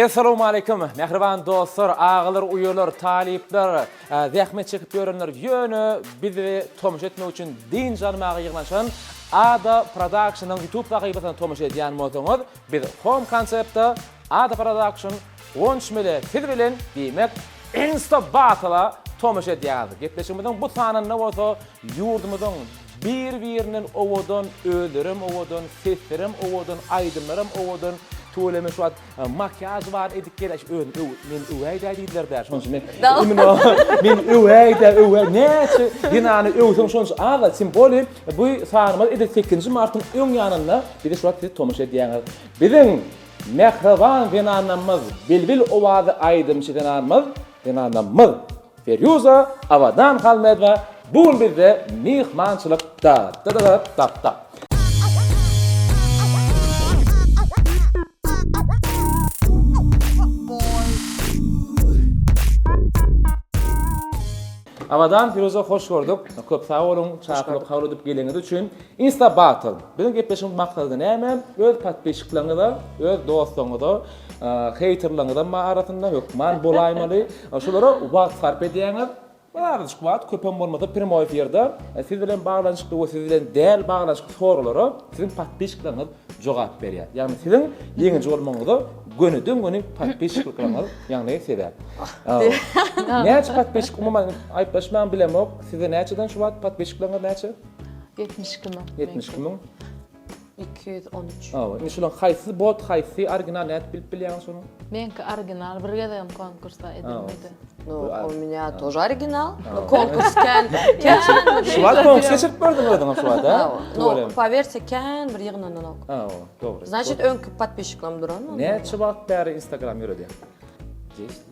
Assalamu alaykum. Mähriban dostlar, agalar, uýalar, talyplar, zähmet çekip ýörenler, ýöne bizi tomaşa etmek üçin dynç almaga ýygnanşan Ada Production-yň YouTube sahypasyna tomaşa edýän bolsaňyz, biz Home Concept-de Ada Production Gonç mele siz bilen diýmek Insta Battle-a tomaşa edýäňiz. Gepleşigimiziň bu sanynda bolsa ýurdumyzyň bir birinden owadan özlerem owadan seslerem owadan aýdymlarem owadan tüweleme şu wagt makiýaž bar edip gel şu özüni öw meni öwäýdä diýdiler dä şonuň üçin men imino meni öwäýdä öwä näçe zenany öwseň şonuň üçin aza tim boli bu sanymyz edil sekizinji martyň öň ýanynda bizi şu wagt siz tomaşa edýäňiz biziň Mähriban zenanamyz, bilbil owazy aýdymçy zenanmyz, zenanamyz Ferýuza Abadanhalmedowa bu gün bizde myhmançylyk da. Abadan Firuzä hoş gördük. Köp sag boluň, çakylyk kabul edip geleniňiz üçin. Insta Battle. Biziň gepleşigiň maksady näme? Öz podpisçikleriňize, öz dostlaryňyza, heýterleriňizem bar arasynda, hökman bolaýmaly. Şulara wagt sarp edýäňiz. Bir azajyk wagt, köpem bolmasa primoý efirde siz bilen baglanyşykly we siz bilen däl baglanyşykly soralara siziň podpisçikleriňiz jogap berýär. Ýagny siziň ýeňiji bolmagyňyza gönüden-göni podpisçiklikleriňiz ýagny sebäp. Näçe podpisçik umuman aýyplaşmaň bilemok. Sizde näçeden şu wagt podpisçikleriňiz näçe? Ýetmiş iki müň. Ýetmiş iki müň. Iki ýüz on üç. Hawa, indi şularyň haýsysy bot, haýsysy original nädip bilip bilýäňiz şonuň? Meňki original, bir gezegem konkursa edilmedi. No, u mňa tož original. No, konkurs kän, kän. Şu wagt konkurs geçirip gördüň özüňem şu wagt, hä? No, powersiýa kän bir ýygnananok. Hawa, dogry. Znaçit öňki podpisçiklerim duranmy? Näçe wagt bäri Instagram ýöredýäň?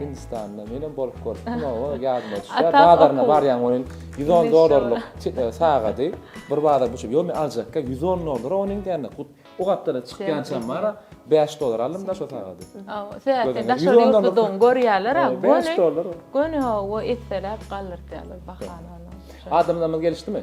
Hindistanda menem bolup görüpdim oba ýadyma düşýär. Bazaryna barýan onuň 110 dollarlyk e, sagady. Bir bazar bu ýok men aljakka 110 dollar onuň diýende hut o gapdala çykýan çam bar. 5 dollar aldym da şu sagady. Söýätde daşary ýurtludygyň görýärler ha. 5 dollar. Göni o etseläp galdyrýarlar bahany. Adamlarymyz gelişdimi?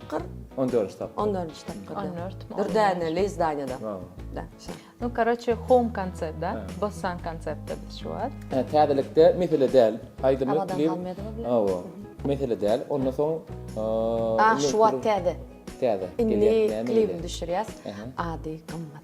tapgyr. On dördünji tapgyr. On dördünji tapgyr. On dört. Bir däne leýz daýnada. Da. No, karoçe, home konsept, da. Bassan konsept, da, biz şu wad. Hä, täzelikde mesele däl. Aýdymly klip. Awadan galmaýady bu. Awa. Mesele däl. Onda soň... Ah, şu wad täze. Täze. Indi klip düşürýäs. Ady gymmat.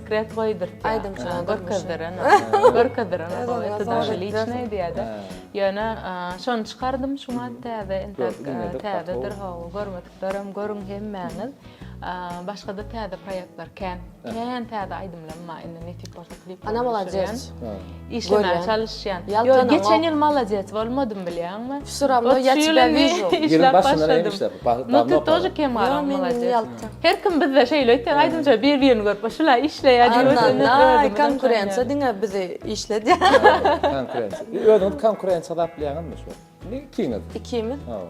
Sekret goýdur. Aýdymçylar görkezdir. Görkezdir. Ýöne şony çykardym şuňa täze entek täzedir hawa görmekderim görüň hemmäňiz. Başga-da täze proýektler kän. Kän täze aýdymlarym bar indi netip bolsa klip. Ana maladýes. Işlemäge çalyşýan. Ýok, geçen ýyl malades bolmadym bilýäňmi? Ýylyň başynda näme işläp? Dawno okadym. Her kim bizde şeýle öýtýär, aýdymçylar bir-birini görüp, şular işleýär diýip öýdýär. Konkurensiýa diňe bizi işledýär. Konkurensiýa. Özüňizi konkurensiýa hasaplanýaňyzmy şu wagt? Ikimiz. Ikimiz? Hawa.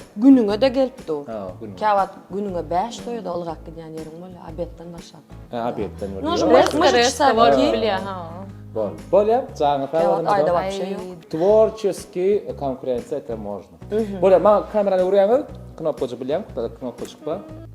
Günüňe-de gelip dur. Ha, günüňe. Käwagt günüňe bäş toýa-da ylgap gidýän ýeriň bolýar, obedden başlap. Hä, obedden bolýar. Nož myş- myş Resto, çysa resto ki. bilýär, ha. Bol. Bolýar, jaňy sag Käwagt bolsun. aýda wapşe Aý. ýok. Tworçeskiý konkurensiýa, ete, można. Bolýar, maňa kamerany öwürýäňiz, knopkajy bilýän, knopkajyk bar.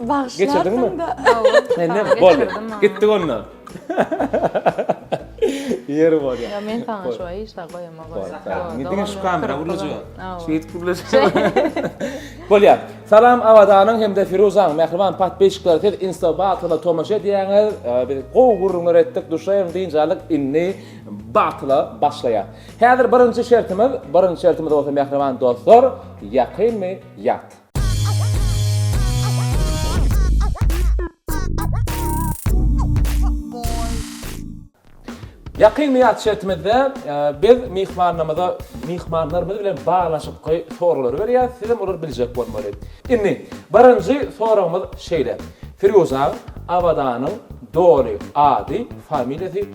Bagşlarsyň da. Mende boldy. Gitdik onda. Ýeri bor ýa. Ýa men saňa şu aý işe goýama goýa. Indi diňe şu kamera gurlajak. Şeýdip gurlajak. Bolýar. Salam Awazanyň hem-de Firuzanyň mähriban patpisçikleri siz insta batyla tomaşa edýäňiz. Biz gowy gürrüňler etdik, duşaýyň dynç alyk indi batyla başlaýar. Häzir birinji şertimiz, birinji şertimiz bolsa mähriban dostlar, ýakynmy ýat. Ýakyn býatçetimizde biz myhmanlarymyza myhmanlarymyz bilen baglanyşykly soraglar berýäs, siz hem olary biljek bolmaly. Indi, birinji soragymyz şeýle, Firuzan Abadanyň doly ady, familiýasy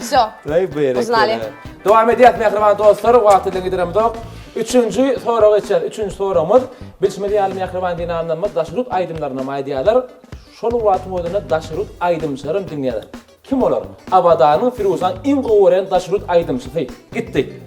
Всё. Öý bu ýere gel. Dowam edýäs mähriban dostlar, wagty bilen gidiremzok. Üçünji soraga geçýäs. Üçünji soragymyz, bilşimiz ýaly mähriban zenanlarymyz daşy rut aýdymlarynam aýdýarlar. Şol wagtyň özünde daşy rut aýdymçylaram diňleýärler. Kim olar? Abadanyň Firusan iň gowy gören daşy rut aýdymçysy. Gitdi.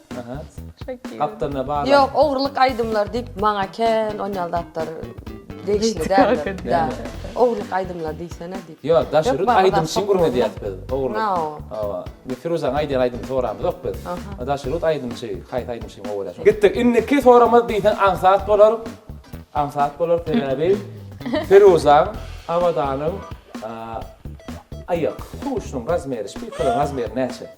Gapdalynda bar. Ýok, ogurlyk aýdymlar diýip maňa kän onýal zatlar degişli däldir. Ogurlyk aýdymlar diýsene diýip. Ýok, daş ürün aýdym üçin gürledýäs biz. Ogurlyk. Hawa. Indi Firuzaň aýdýan aýdymyny soramyzok biz. Daş ürün aýdymçy, haýsy aýdymçy üçin gowy bolýar. Gitdik. Indiki soramyz diýseň aňsat bolar. Aňsat bolar sebäbi Firuzaň, Abadanyň aýak huşunyň razmeri, şpilkalaryň razmeri näçe?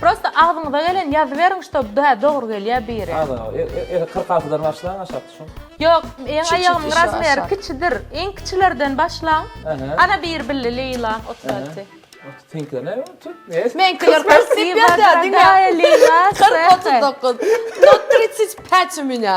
Prosta agzyňyza gelen ýazyberiň ştob hä dogry gelýä biri. Aza eli kyrk altydan başlaň aşak düşüň. Ýok meň aýagymyň razmeri kiçidir iň kiçilerden başlaň ana biri billi Leýla otuz alty. Seňkiler näme tut mes. Meňkiler kyrk diýip ýazýa diňe kyrk otuz dokuz no tritsjt päç u meňa.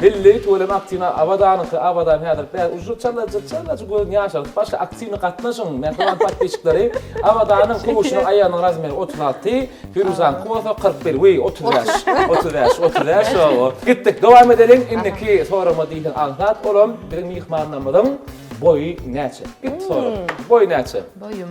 Belleý tüweleme aktiwna Abadanyňky Abadan häzir bäş uju çala çala göz ýaşaryp başla aktiwny gatnaşyň mähriban podpisçikleri Abadanyň kowuşynyň aýagynyň razmeri otuz alty Firuzanyňky bolsa kyrk bir wiý otuz bäş otuz bäş otuz bäş owo gitdik dowam edeliň indiki soragma diýseň aňsat olam biziň myhmanlarymyzyň boýy näçe git sorag boýy näçe. Boýum.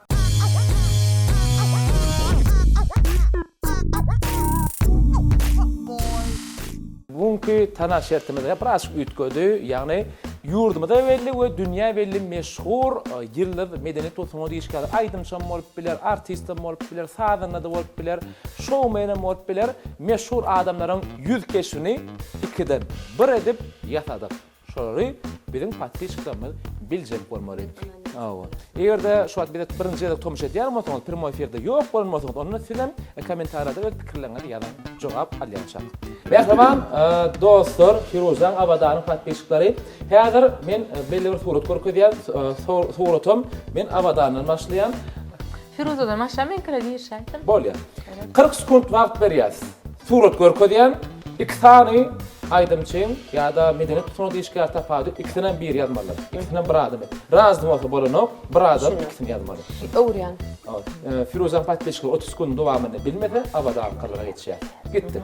Bu günki Tana şertimiz hem birazjyk üýtgedi. Ýagny ýurdumyza belli we dünýä belli meşhur ýyldyz medeni tosunat işgäri, aýdymçam bolup biler, artistem bolup biler, sazanda-da bolup biler, şoumenem bolup biler, meşhur adamlaryň ýüz keşbini ikiden bir edip ýasadyk. Şolary biziň podpisçiklerimiz biljek bolmaly. Hawa. Eger-de şu wagt bize birinji gezek tomuş edýän bolsaňyz, prýmoý efirde ýok bolan bolsaňyz, onda siz hem kommentariýada öz pikirleriňizi ýazyň. Jogap alýançak. Mähriban dostlar, Firuzaň Abadanyň podpisçikleri, häzir men belli bir surat görkezýän, suratam men Abadandan başlaýan. Firuzadan aşa men kire girişäýdim. Bolýa. Kyrk sekunt wagt berýäs. Surat görkezýän, iki sany aýdymçyň ýa-da medeniýet pusugyna işgär tapady, ikisinem biri ýazmalydyr. Ikisinem bir adam. Razy bolsa bolanok, bir adam ikisini ýazmaly. Öwürýän. Firuzaň podpisçileri otuz sekundyň dowamynda bilmese, Abadankalara geçýär. Gitdik.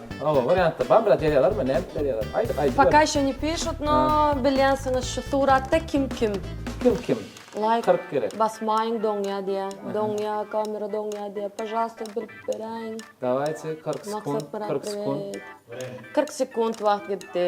Hawa wariantda bar biraz ýazýalarmy nädip ýazýalar aýdyp aýdyp. Poka ýşo ne pişut no bilýänsiňiz şu suratda kim kim. Kim kim. Laýk. Kyrk kere. Basmaýyň doňýa diýä doňýa kamera doňýa diýä pažalsta bilip beräýiň. Davaýte kyrk sekunt kyrk sekunt. Kyrk sekunt wagt gitdi.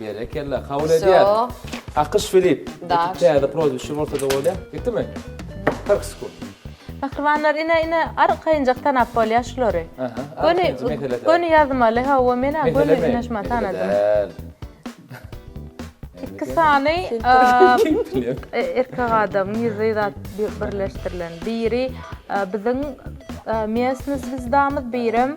Berekella, kabul edýäs. Wsё. Akyş Filip. Daş. Ekiz täze prozwişi bolsada bolýa. Ýetdimi? Kyrk sekund. Mähribanlar ine ine arkaýynjak tanap bolýa şulary. Aha, arkaýynjy Göni mesele däl. göni ýazmaly hawa men ha göni Meselemi? ünaşma Mesele tanadym. däl. Iki sany Kim bilen? e, erkek adamyň ýüzi zat bir birleşdirilen. Biri e, biziň e, miestni zwizdamyz, birem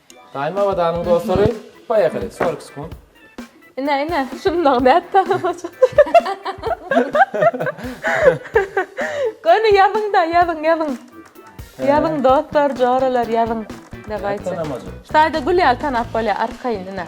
Daýym Abadanyň dostlary Poýehali Sork Skun. Ine ine şundan nät tanamaja. Göni ýazyňda ýazyň ýazyň. Ýazyň dostlar joralar ýazyň. Nät tanamaja. Şu taýda gül ýaly tanap bolýar arkaýyn ine.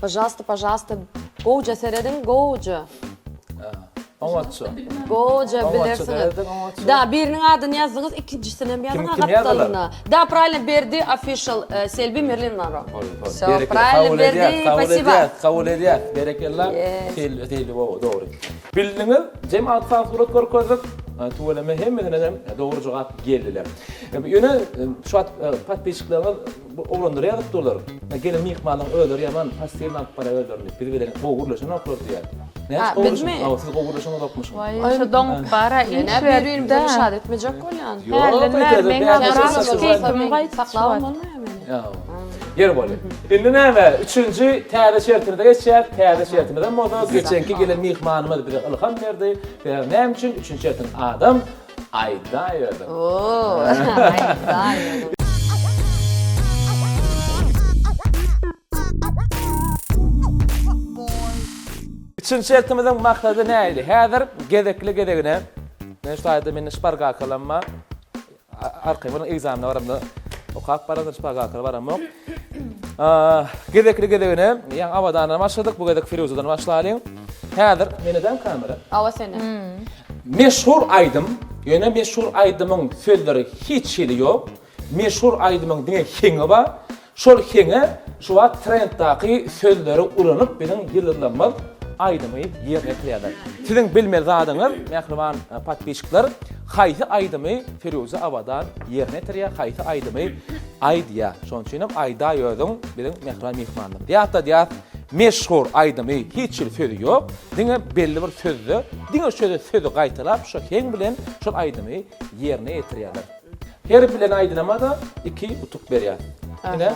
Pažalsta pažalsta gowja serediň gowja. Oňatja. Gowja bilersiňiz. Da biriniň adyny ýazdyňyz ikinjisinem ýazyň agatdalyna. Da praýlno berdi official selbi merlin monro. Praýlno berdi spasiba. Kabul edýär. Berekella. Selbi bobo dogry. Bildiňiz jemat sag surat görkezdik. Tüweleme hemmesinenem dogry jogap geldiler. Ýöne şu wagt patpisçiklerňiz Bu oglanlar ýazyk dolar. Hä gelin myhmanyň özleri ýaman passiwny alyp barýar özlerini. Biz bilen gowy gürleşenoklar diýýär. Nädip gowy gürleşiň? Hawa siz gowy gürleşeňizokmyşyň. Waý şo doňup bara iş berdi. Ýöne bir-birini perişan etmejek bolýan. Ýok eýsede meň biraz keýpimi gaýt saklap bolmaýar meni. Ýa. Ýeri bol. Indi näme üçünji täze şertimize geçýäs. Täze şertimizem bolsa geçenki gelen myhmanymyz bize ylham berdi. Sebäbi näme üçin üçünji şertiň adam Aýdaýberin. Oo, aýdaýberin. Üçünji şertimiziň maksady näidi? Häzir gezekli-gezegine, men şu taýda meniň şpargakalam bar, arkaýyn boluň, ekzamene baramda okap baran, şpargakala baramok. Gezekli gezegine, ýa Abadandan başladyk, bu gezek Firuzadan başlalyň. Häzir meni däl kamera. Awa seni. Meşhur aýdym, ýöne meşhur aýdymyň sözleri hiç hili ýok. Meşhur aýdymyň diňe heňi bar. Şol heňe şu wagt trenddaky sözleri ulanyp biziň ýyldyzlarymyz aýdymy ýerine ýetirýärler. Siziň bilmeli zadyňyz, mähriban podpisçikler, haýsy aýdymy Firuza Abadan ýerine ýetirýär, haýsy aýdymy Aýdýa, şonuň üçinem aýdaý özüň biziň mähriban myhmanymyz diýip atladýas. Meşhur aýdymy hiç hili sözi ýok, diňe belli bir sözde, diňe şöýle sözi gaýtalap şo heň bilen şol aýdymy ýerine ýetirýärler. Her bilen aýdylama-da iki utuk berýär. Ine,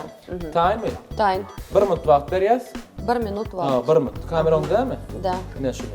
taýynmy? Taýyn. Bir minut wagt berýäs. Bir minut wagt. Haa, bir minut. Kamera oňdämi? Dä. Ine şuny.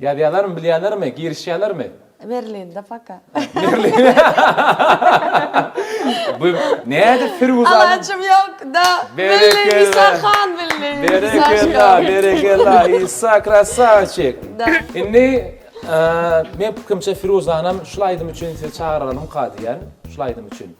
Ýazýalarmy bilýälermi girişýälermi. Berlinde paka. Bu nädip firuzany. Alajym ýok da billi isa han billi isa şon. Berekella berekella isa krasawçik. Indi men pikrimçe firuzanam şul aýdym üçin sizi çagyralymka diýýän şul aýdym üçin.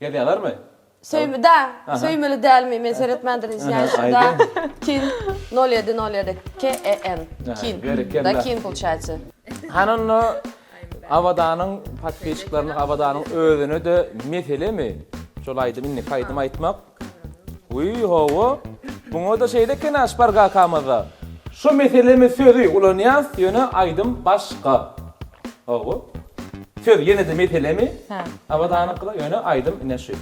Gezýalermi? Söýmda, söýmeli dälmi men seretmändirin izňýaýys da kin nol ýedi nol ýedi KEN kin da kin pulçaýça. Hany onda Abadanyň podpisçiklaryna Abadanyň özüne de meselemi şol aýdym indiki aýdym aýtmak. Wiý, hawa, muňa-da şeýle ekeni-ä Şpar kakamyz-da. Şu meselemi sözi ulanýas, ýöne aýdym başga. Hawa. Söz ýene-de meselemi, Abadanyňkyda, ýöne aýdym ine şu.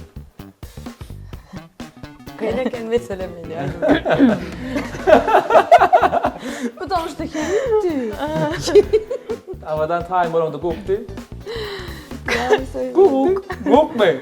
Kyn eken meselem indi aýdym. Putam şda kemdi. Abadan taýyn bolaňda gukdy. Gukmy?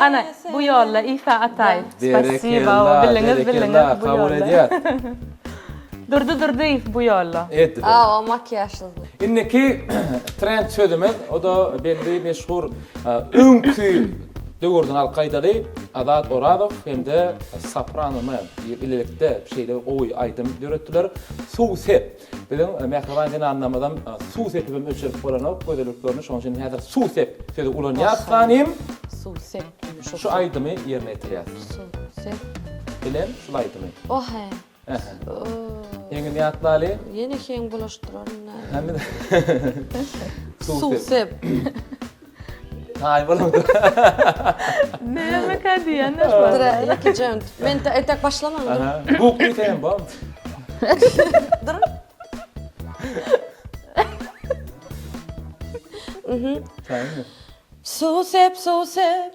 Ana, bu ýolla Isa Ataýew. Berekella, berekella, kabul edýäs. Durdy Durdyýew bu ýolla. Eddi bu. Awa, makiýažsyzdy. Indiki trend sözümiz, o-da belli meşhur öňki döwürden alyp gaýdaly Azat Orazow hem-de Soprano Man bilelikde şeýle gowy aýdym döretdiler. Suw sep. Biziň mähriban zenanlarymyzam suw sepibem ölçerip bolanok gözelliklerini, şonuň üçin häzir suw sep sözi ulanýarys hanym. Suw sep. Şu aýdymy ýerine ýetirýäs. Suw sep. Bilen şul aýdymy. Ohe. Heňini ýatlaly. Ýene heň bulaşdyraryn. Suw sep. Ay bana da. Ne mi kadi ya ne var? Dur iki cent. Men etek başlamam. Bu kuytayım bam. Dur. Su sep su sep.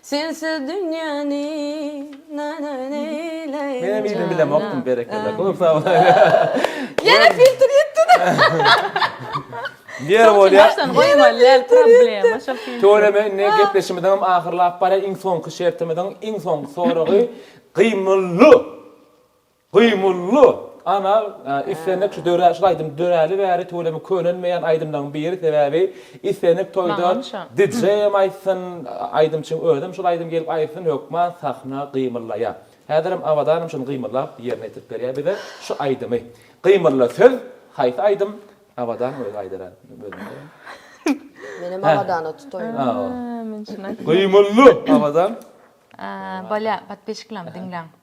Sensiz dünýäni nana neýleýin janan. Menem ýene bilemokdym berekella köp sag bol. Ýene filtr ýitdi. Ýeri bolýa. Tüweleme indi gepleşimiziňem ahyrlap barýa iň soňky şertimiziň iň soňky soragy gymylly. Gymylly ana islendik şu dörä şul aýdym döräli bäri tüweleme könelmeýän aýdymlaryň biri sebäbi islendik toýda DJ hem aýtsyn aýdymçyň özem şul aýdym gelip aýtsyn hökman sahna gymyllaýa häzirem Abadanam şuny gymyllap ýerine ýetirip berýä bize şu aýdymy gymylly söz haýsy aýdym Abadan özi aýdar a Menem Abadana tutaýyn Gymylly Abadan Bolýa podpisçiklerem diňläň.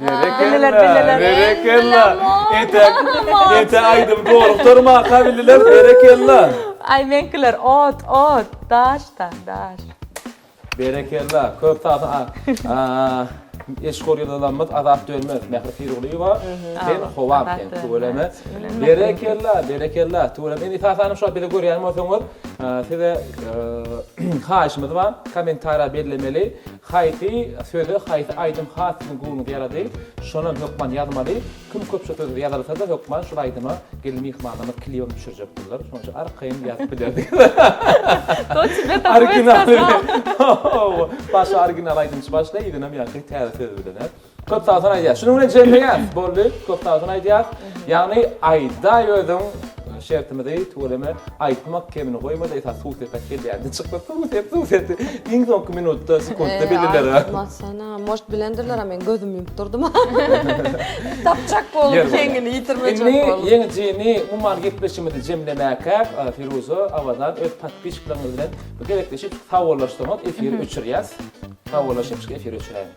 Berekella, berekella. Ete, ete aýdym gorukdyr ma kabililer, berekella. Aý meňkiler ot, ot, daş da, daş. Berekella, köp sag bol. Eşhur ýylalamyz Azat Dönmez, Mähri Pirgulyýewa, sen howam sen tüweleme. Berekella, berekella. Tüweleme. Indi esasanam şuwagt bizi görýän bolsaňyz, size haýyşymyz bar, kommentariýa bellemeli. Haýsy söze haýsy aýdym has siziň göwnüňize ýarady, şonam hökman ýazmaly. Kim köp şu sözi ýazylsa-da hökman şul aýdyma gelin myhmanlarymyz klibem düşürjekdirler. Şonuň üçin arkaýyn ýazyp bilerdik. Originaly. Başy original aýdymçy başlaý, yzynyam ýaňky täze söz bilen. Köp sag bolsun aýdýas. Şunuň bilen jemleýäs. Boldy. Köp sag bolsun aýdýas. Ýagny aýdaý özüň şertimizi tüweleme aýtmak kemini goýmada esasy suw sepek gelýär. Dy çykma suw sep suw sep iň soňky minutda sekuntda bilirler. Aýtmasana moş bilendirler a men gözüm ýumup durdum. Tapjak bolup ýeňini ýitirmejek bolup. Indi ýeňijini umuman gepleşigimizi jemlemäkä Firuza Awadan öz podpişiklaryňyz bilen bir gezekleşip sawollaşsaňyz efiri öçürýäs. Sawollaşypjyk efiri öçüräýiň.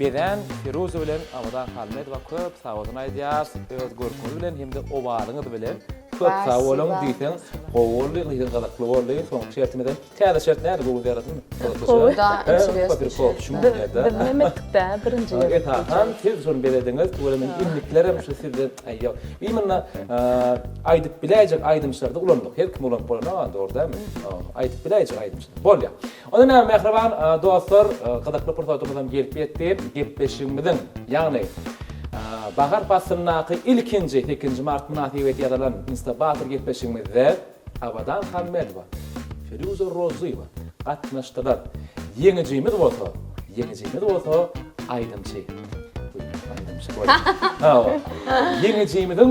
Bezen Piruza bilen Abadan Halmedowa köp sag bolsun aýdýas öz görküňiz bilen hemde owazyňyz bilen. Köp sag boluň diýseň gowy boldy diýseň gyzykly boldy soňky şertimizem täze şert nädip göwün ýaradym gyzyklyja esasan siz şony bezediňiz tüweleme men indiklerem şu sizde ýok biz munda aýdyp biläýjek aýdymçylary-da ulandyk her kimi ulanyp bolanok a dogry dälmi aýdyp biläýjek aýdymçy bolýa. Onda näme mähriban dostlar, gyzykly pursatymyzam gelip ýetdi. Gepleşigimiziň, ýagny bahar paslyndaky ilkinji sekizinji mart mynasybeti ýazalan Instabator gepleşigimizde Abadan Hammedowa, Firuzä Rozyýewa gatnaşdylar. Ýeňijimiz bolsa, ýeňijimiz bolsa aýdymçy. Aýdymçy goý. Ýeňijimiziň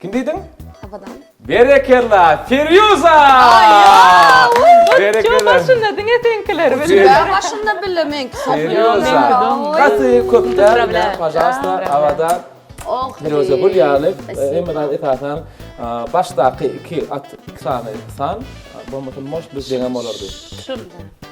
Kim diýdiň? Abadan. Berekella Ferýuza! Berekella. Başynda diňe seňkiler bilip. Ber başynda bile meňki Ferýuza. Gaty köpden bilen pažalsta Abadan. Oh. Ferýuza gül ýaly. Hemme zat esasan başdaky iki at iki sany san bolmasa moş biz jeňem bolardy. Şul.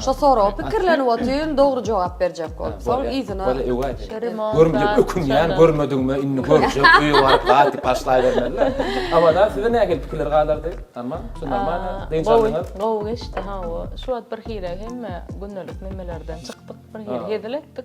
Şo soraga pikirlenip otyryn, dogry jogap berjek bolup. Soň yzyna. Bolýa, öý aýdaýyn. Görümjek ökünýän, görmedigime indi görjek, öýe baryp gaty başlaýbermeli. Abadan size nähili pikirler galardy? Tamam, şu normalny, dynç aldyňyz? Gowy geçdi, hawa. Şu wagt birhili hemme gündelik memelerden çykdyk, birhili hezil etdik.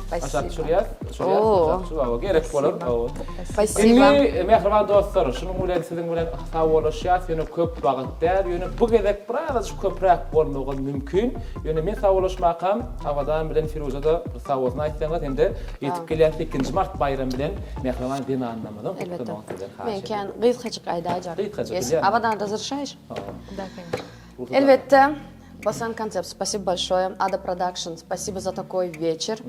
Aşak düşürýär. Düşürýär. Aşak düşür. Awa, gerek bolar. Awa. Indi mähriban dostlar, şunuň bilen siziň bilen sawoluşýas. Ýöne köp wagt däl. Ýöne bu gezek biraz köpräk bolmagam mümkin. Ýöne men sawoluşmakam Abadan bilen Firuza-da sawolsun aýtsaňyz hem-de ýetip gelýän 8-nji mart baýramy bilen mähriban zenanlarymyzyň gutlamagyny sizden haýyş edýän. Men kän gysgajyk aýdaýjak. Gysgajyk. Abadan-da zyrşaýyş. Elbetde. Basan koncept spasibo bolşoýe ada production spasibo za takoý weçer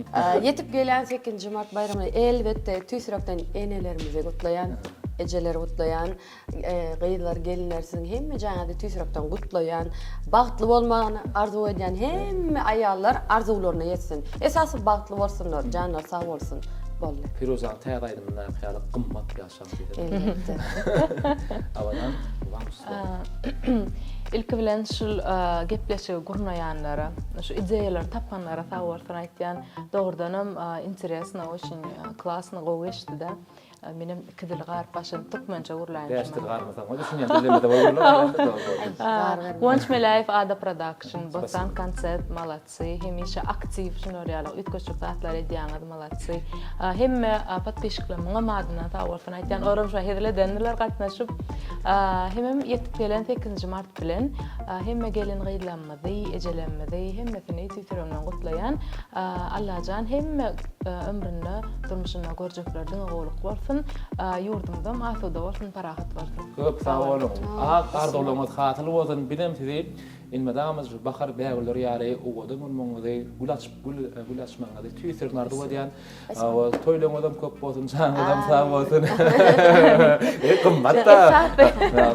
ýetip gelýän sekizinji mart baýramyny elbetde tüýs ýürekden enelerimizi gutlaýan ejeleri gutlaýan gyzlar gelinler siziň hemme jaýyňyzy tüýs ýürekden gutlaýan bagtly bolmagyny arzuw edýän hemme aýallar arzuwlaryna ýetsin esasy bagtly bolsunlar janlary sag bolsun boldy. Piruzaň täze aýdymyndaky ýaly gymmat ýa. Elbetde. Awadan Ilki bilen şu gepleşigi gurnaýanlara, şu ideýalary tapanlara sag bolsun aýtýan. Dogrudanam interesno, oçin klasno gowy geçdi-de. Menem iki dil garyp başladyň, türkmençe gurlaýyn. Bäş dil garypmasaň, o düşünýän dillerimize bolurlar. Guwanç Meläýew, Ada Production, Botan Konsept, Malat. Sy hemişe aktiw şular ýaly üýtgeşik zatlar edýäňiz malatçy. Hemme podpişikler muňam adyndan sag bolsun aýtýan oram şo hezil edendiler gatnaşyp. Hemem ýetip gelen sekizinji mart bilen hemme gelin gyzlarymyzy ejelerimizi hemmesini tüýs ýüregimden gutlaýan. Allajan hemme ömründe durmuşynda görjekleri diňe gowluk bolsun. Ýurdumyzam asuda bolsun parahat bolsun. Köp sag boluň. Ak arzuwlaryňyz hasyl bolsun. Bizem sizi Elmydamyz bahar bägüller ýaly owadan bolmagyňyzy, gül açyp gül gül açmagyňyzy tüýs ýürekden arzuw edýän. Toýlaryňyzam köp bolsun, janyňyzam sag bolsun. Eý gymmat-da.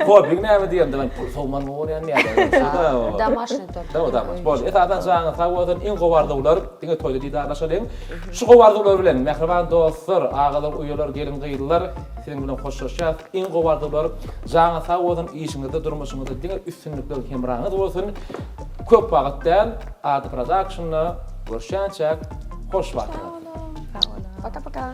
Hobbiň näme diýemde men pul sowman gowy görýän ýa-da. Domaşnyý tort. Dawa domaş. Boldy. Esasan janyňyz sag bolsun. Iň gowy arzuwlar. Diňe toýda didarlaşalyň. Şu gowy arzuwlar bilen mähriban dostlar, agalar, uýalar, gelin-gyzlar. Seniň bilen hoşlaşýas iň gowy arzuwlar janyň sag bolsun işiňizde durmuşyňyzda diňe üstünlikler hemraňyz bolsun köp wagyt däl Ada Productionna görüşýänçäk hoş wagt Sag boluň Sag boluň Paka paka.